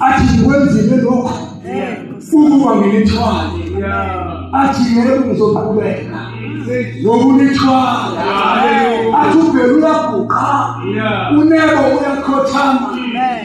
athi ngikwenzile lokhu ukuba ngilithwale athi yebo ngizoqhubeka ngokulithwala athi ubhelu uyaguqa unebo uyakhothama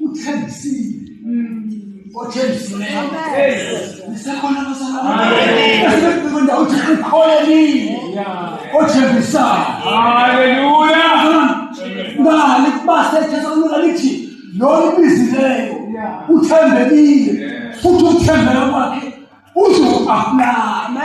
uthembisile othembisile nisekhona basakhona uthi ukholelile othembisayo haleluya ngani kubasethetha kulula lithi lona ubizileyo uthembekile futhi uthembela kwakhe uzoku-aplana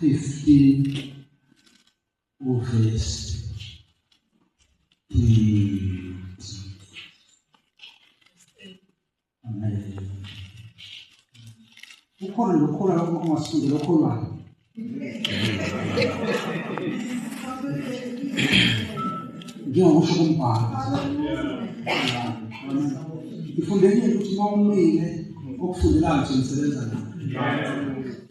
15 uverse 20. Amen. Ukhona lokholwa lokho ongasundi lokholwayo. Njengokusho kumbhalo. Ngifundekile ukuthi uma umile okufundelayo nje nisebenza nayo.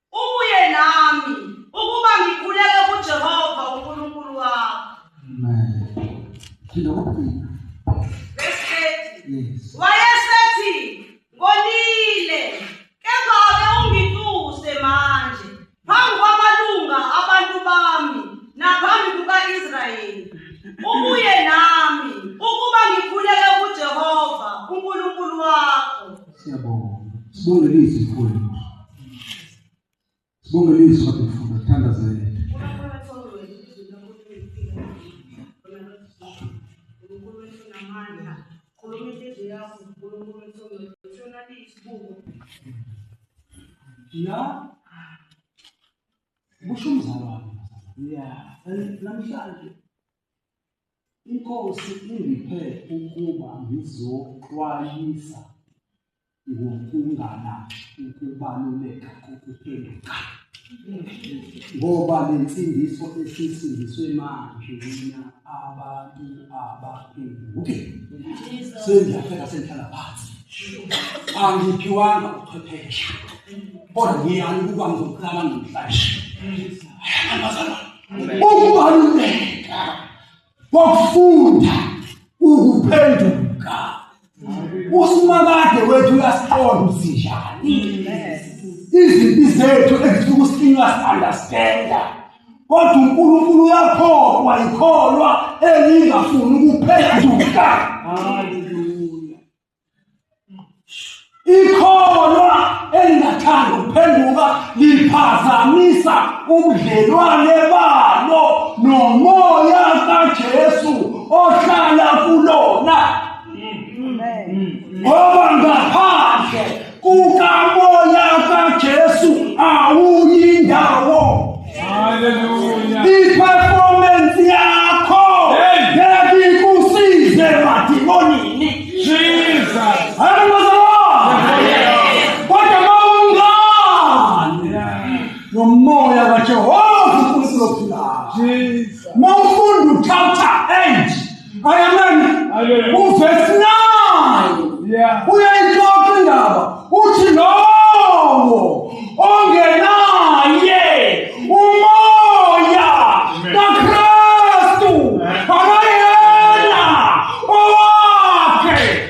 Ubuye nami ukuba ngikhuleke kuJehova uNkulunkulu wakho. Amen. Ngilokhu. Yes. Wayesethi ngonile kepha ake ungituse manje phambi kwamalunga abantu bami naphambi kuka-Israyeli. Ubuye nami ukuba ngikhuleke kuJehova uNkulunkulu wakho. Siyabonga. Sibonge lizwi mkhulu. Sibonge lizwi kodwa mfuna thandazela. La kusho umzalwane. Yeah, namhlanje Inkosi ingiphe ukuba ngizoxwayisa ngokungana ukubaluleka kokuphenduka ngoba le nsindiso esisindiswe manje mina abantu abaphenduke sengiyafela sengihlala phansi angiphiwanga uqhwephesha kodwa ngiyani ukuba ngizoqala namhlanje ayamazalwana ukubaluleka kokufunda ukuphenduka usimakade wethu uyasiqonda usinjani izimpi zethu ezifika usikinywa si-understanda kodwa unkulunkulu uyakholwa yikholwa elingafuni ukuphenduka ikholwa elingathandi ukuphenduka liphazamisa ubudlelwane balo nomoya kaJesu ohlala kulona ngoba ngaphandle kukamoya kaJesu awuyindawo haleluya iperformance yakho ngekusize madimonini Jesus kodwa mawungani nomoya kaJehova uNkulunkulu ophilayo mawufunda uthatha end ayameni uvesi 9 uyayixoxa indaba uthi lowo ongenaye umoya kakristu akayena owakhe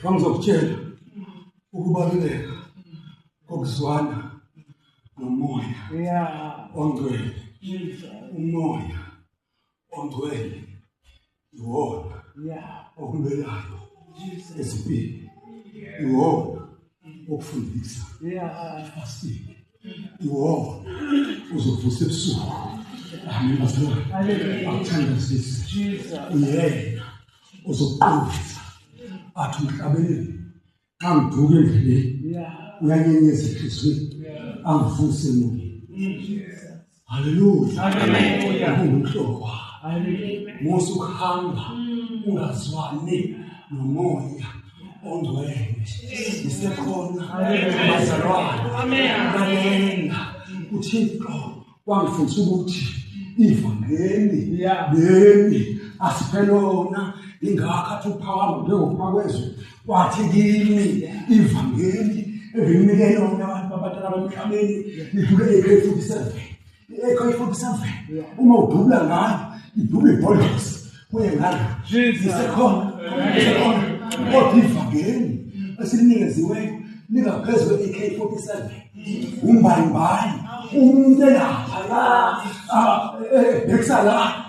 Ngangizokutshela ukubaluleka kokuzwana nomoya. Yeah. Ongcwele. Umoya ongcwele iwona okulwelayo esipini iwona okufundisa asike iwona uzovusa ebusuku amen bazalwane akuthandazise uyena uzoqondisa athi umhlabeni angiduke endleleni uyanyenyeza ehliziyweni angivuse emoyeni Hallelujah. Hallelujah. Kuhlokwa. Hallelujah. Musa uhamba mm. ungazwani nomoya ongcwele. Isekhona bazalwane. Amen. Amen. UThixo wangifundisa ukuthi ivangeli leli asiphelona ingakho athi uphakama njengokuphakwa kwezwe wathi kimi ivangeli ebengimike lona abantu abadala bamhlabeni ngidlule ekho ifuthi seven ekho ifuthi seven uma udubula ngayo idubula ibhodlosi kuye ngalo isekhona isekhona kodwa ivangeli esilinikezweyo lingaphezu kwe-ak forty seven umbayimbayi umuntu elapha la ebhekisa la